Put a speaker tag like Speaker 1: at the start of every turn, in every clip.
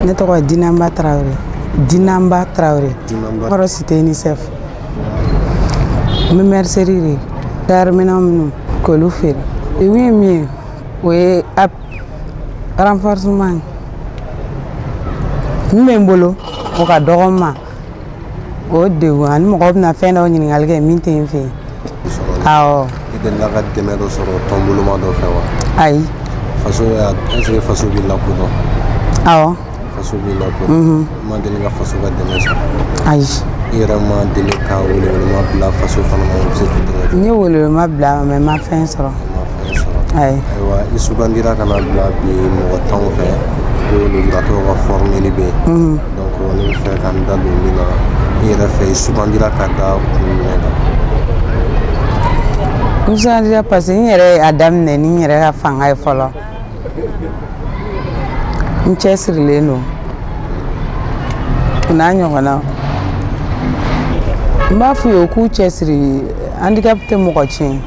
Speaker 1: ne tɔgɔ ye dinanba tarawele dinanba tarawele kɔrɔ cité unicef n bɛ mercerie de ye tayɛriminɛn minnu k'olu feere iwi ye min ye o ye ap renforcement min bɛ n bolo o ka dɔgɔ n ma o degun ani mɔgɔ bɛna fɛn dɔw ɲininkali kɛ min tɛ n fɛ yen awɔ i delila ka dɛmɛ dɔ sɔrɔ tɔnboloma dɔ fɛ wa ayi faso y'a est-ce que faso b'i lakodɔn awɔ faso b'i lakodɔn i ma deli ka faso ka dɛmɛ sɔrɔ ayi i yɛrɛ ma deli ka welewelema bila faso fana ma u bɛ se k'i dɛmɛ cogo n ye welewelema bila a ma mɛ n ma fɛn sɔrɔ i ma fɛn sɔrɔ ayi ayiwa i sugandira ka na bila bi mɔgɔ tanw fɛ ko lujuratɔw ka fɔrmeli bɛ yen ne bɛ fɛ ka n da don min na i yɛrɛ fɛ i sugandira ka da kun jumɛn kan n sugandira parce que n yɛrɛ y'a daminɛ ni n yɛrɛ ka fanga ye fɔlɔ n cɛsirilen don o n ɲɔgɔnnaw n b'a f'u ye u k'u cɛsiri handicap tɛ mɔgɔ tiɲɛ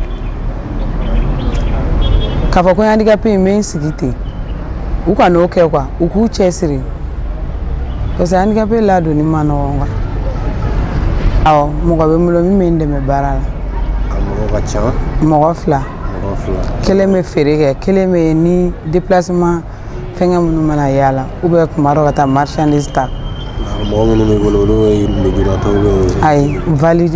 Speaker 1: k'a fɔ ko handicap in n bɛ n sigi ten u kan'o kɛ quoi u k'u cɛsiri parce que handicapé ladonni man nɔgɔn quoi awɔ mɔgɔ bɛ n bolo min bɛ n dɛmɛ baara la a mɔgɔ ka ca mɔgɔ fila mɔgɔ fila kelen bɛ feere kɛ kelen bɛ ni déplacement fɛngɛ minnu mana yaala ou bien kuma dɔ ka taa marchandise ta mɔgɔ minnu b'i bolo olu ye lujuratɔw ye ayi valide